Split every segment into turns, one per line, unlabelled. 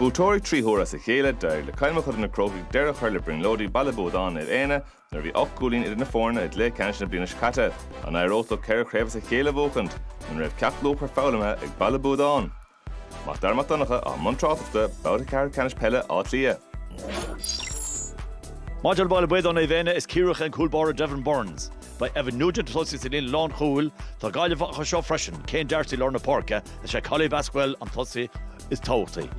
Buaiteoirí trí huaire as a chéile, D'éirigh le Cill Mochuda Na Crócaigh deireadh a chur le brionglóidí Baile Buadáin Naomh Éanna nuair a bhí ocht gcúilín idir na foirne i gcluiche ceannais na bliana seo caite. An éireodh leo ceithre chraobh as a chéile a bhuachaint? An raibh ceacht luachmhar foghlamtha ag Baile Buadáin? Mac Dara Mac Donncha, i mbun tráchtaireachta, Babhta Ceathrú Ceannais Peile Átha Cliath.
Maidir le Baile Buadáin Naomh Éanna, is Ciarraíoch an cúl báire Devon Burns. Beidh Evan Nugent ag tosaí sa líne lánchúil. Tá Gaillimheach anseo freisin, Céin D'Arcy lár na páirce, is é Collie Basquel an tosaí is tábhachtaí.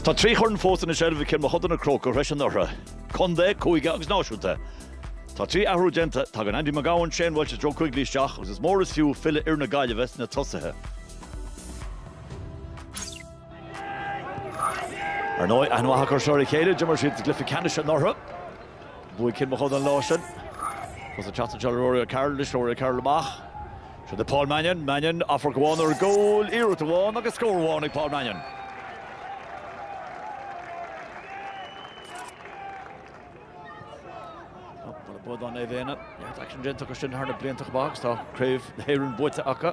Tá trí chorn fós ina seilbh ag Cill Mochuda na Crócaigh tar éis anuraidh, contae, cúige agus náisiúnta. Tá trí athrú déanta tagann Andy McGowan Shane Walsh Joe Quigley isteach agus is mór is fiú filleadh fhear na Gaillimhe sna tosaithe. Ar ndóigh, aithne mhaith acu seo ar a chéile, d'imir siad i gcluiche ceannais anuraidh. Bhuaigh Cill Mochuda an lá sin. Agus isteach anseo le Rory O'Carroll anois, Rory O'Carroll amach. Seo do Paul Mannion, Mannion, amharc amháin ar an gcúl, iarracht amháin agus scór amháin ag Paul Mannion. Buadáin Naomh Éanna, neart aicsin déanta acu sin thar na blianta chomh maith agus tá Craobh na hÉireann buaite acu.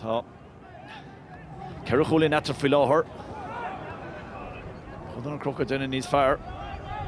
Tá ceithre chúilín eatarthu faoi láthair. Cill Mochuda na Crócaigh ag déanamh níos fearr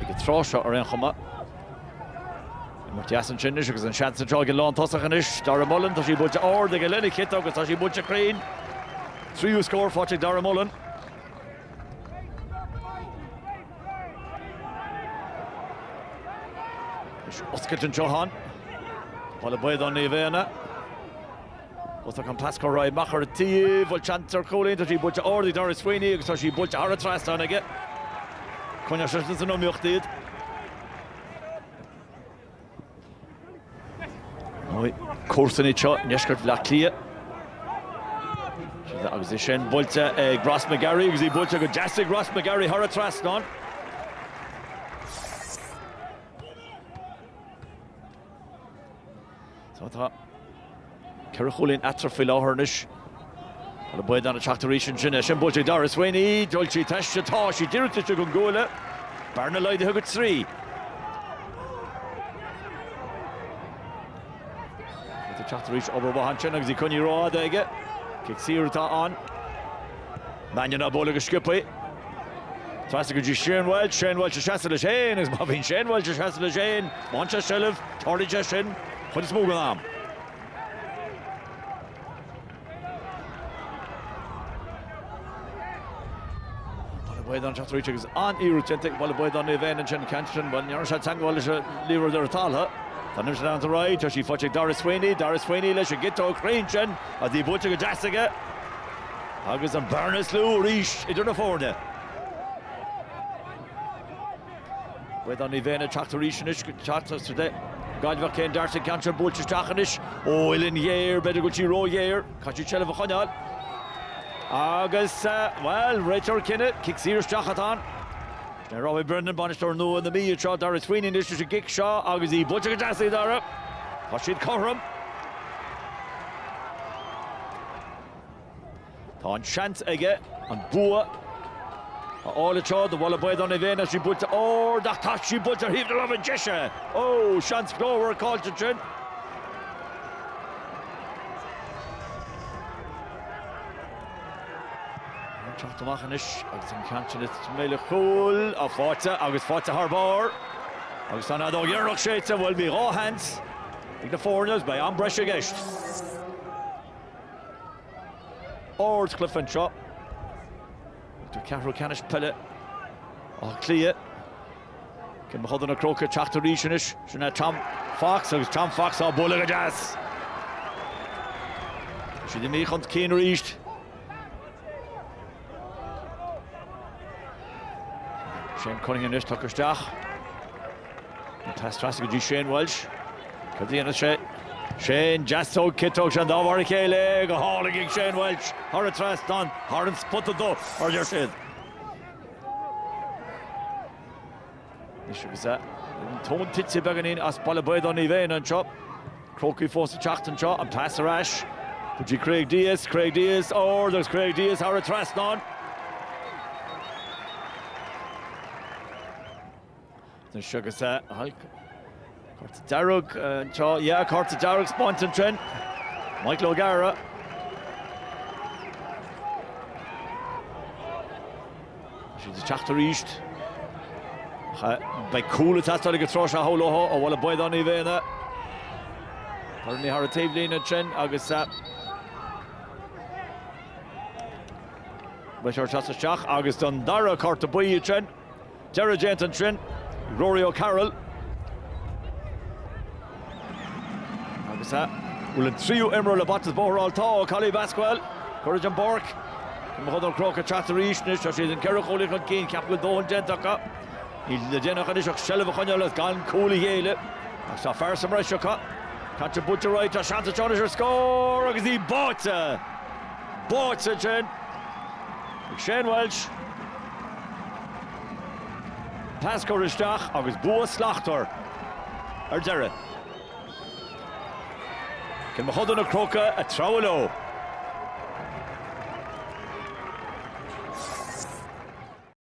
ag an tráth seo ar aon chuma. Imirt dheas ansin anois agus an seans anseo ag an lántosach anois. Dara Mullin, tá sí buailte ard aige lena chiotóg agus tá sí buailte cruinn. Tríú scór faighte ag Dara Mullin. Is oscailt anseo ann. Baile Buadáin Naomh Éanna. Agus Colm Basquel ag rith amach ar an taobh an bhfuil seans ar chúilín. Tá sí buailte ard ag Daire Sweeney agus tá sí buailte thar an trasnán aige. Coinneoidh sé sin san iomaíocht iad. Comharsana iad seo i ndeisceart Bhaile Átha Cliath. Agus é sin buailte ag Ross McGarry agus í buailte go deas ag Ross McGarry thar an trasnán. Tá Ceithre chúilín eatarthu faoi láthair anois. Tá Naomh Éanna ag teacht arís ansin. É sin buailte ag Daire Sweeney. An bhfuil sí taobh istigh. Tá sí díreach taobh istigh den gcuaille. Bearna laghdaithe go trí. Tá ag teacht arís obair mhaith ansin agus í coinnithe rófhada aige. Cic saor atá ann. Mannion á bualadh go sciobthaí. Trasna go dtí Shane Walsh. Shane Walsh ag seasamh leis féin agus má bhíonn Shane Walsh ag seasamh leis féin, má fhaigheann sé seilbh, teorainn sé sin. chuid is mó den am. Baile Buadáin ag teacht arís agus an-fhéarú déanta ag Baile Buadáin Naomh Éanna ansin, ceann sin, bhuel, ní dhearna sé teagmháil lena lámh ar an talamh. Tá an imirt leanta ar aghaidh, tá sí faighte ag Daragh Sweeney, Daragh Sweeney leis an gciotóg cruinn sin atá buailte go deas aige agus an bhearna níos lú arís idir na foirne. B'fhéidir, ní bheinn ag teacht arís anois go teacht as Gaillimh, Cein Darcy, ceann sin buailte isteach anois ó uillinn ghéar, b'fhéidir go bhfuil sí ró-ghéar, caithfidh siad seilbh a choinneáil agus, bhuel, réiteoir cinneadh, cic saor isteach atá ann. Sin é Robbie Brennan, bainisteoir nua na Mí, ag seo Dara Sweeney anois leis an gcic seo agus í buailte go deas ag Dara, tá siad cothrom. Tá an seans aige an bua a fháil anseo do Bhaile Buadáin Naomh Éanna, tá sí buailte ard ach tá sí buailte ar thaobh na láimhe deise. Ó! Seans glórmhar caillte ansin. Ag teacht amach anois agus an ceann sin ag McCool faighte agus faighte thar barr agus tá an fheadóg dheireanach séidte. Bhuel bhí dhá sheans ag na foirne agus beidh am breise i gceist. Ard chluiche anseo. Tá ceathrú ceannais peile Átha Cliath. Cill Mochuda na Crócaigh ag teacht arís anois, sin é Tom Fox agus Tom Fox á bualadh go deas. Tá siad imithe chun cinn arís. Shane Cunningham anois tugtha isteach. An pas trasna go dtí Shane Walsh. Cad a dhéanfas sé? Shane, deasóg, ciotóg, sé an dá mhar a chéile go hálainn ag Shane Walsh thar an trasnán, thar an spota dubh, mar a deir siad. Anois agus an tóin tite beagáinín as Baile Buadáin Naomh Éanna anseo. Crócaigh fós ag teacht anseo, an pas ar ais go dtí Craig Dias, Craig Dias ard agus Craig Dias thar an trasnán. Anois agus é. Cárta dearg anseo, yeah, cárta dearg bronnta ansin. Michael O'Gara. Siad ag teacht arís. Beidh cúl ag teastáil ag an tráth seo thall, ó, ó Bhaile Buadáin Naomh Éanna. Cuireann sé í thar an taobhlíne ansin agus Beidh sé ag teacht isteach agus don dara cárta buí ansin. Deireadh déanta ansin, Rory O'Carroll. Agus a bhfuil an tríú imreoir le Baile Bhuadáin ar fáil tá Collie Basquel. Curtha den bpáirc. Mochuda na Crócaigh ag teacht arís anois. Tá siad ceithre chúilín chun cinn. Ceapaim go bhfuil dóthain déanta acu. Níl le déanamh acu anois ach seilbh a choinneáil is gan cúl a ghéilleadh. Agus tá fear sa mbreis acu. Caitríona Boutcheray, tá seans anseo anois ar scór agus í báite! Báite ansin ag Shane Walsh. Pas curtha isteach agus bua slachtmhar ar deireadh. Cill Mochuda na Crócaigh ag treabhadh leo.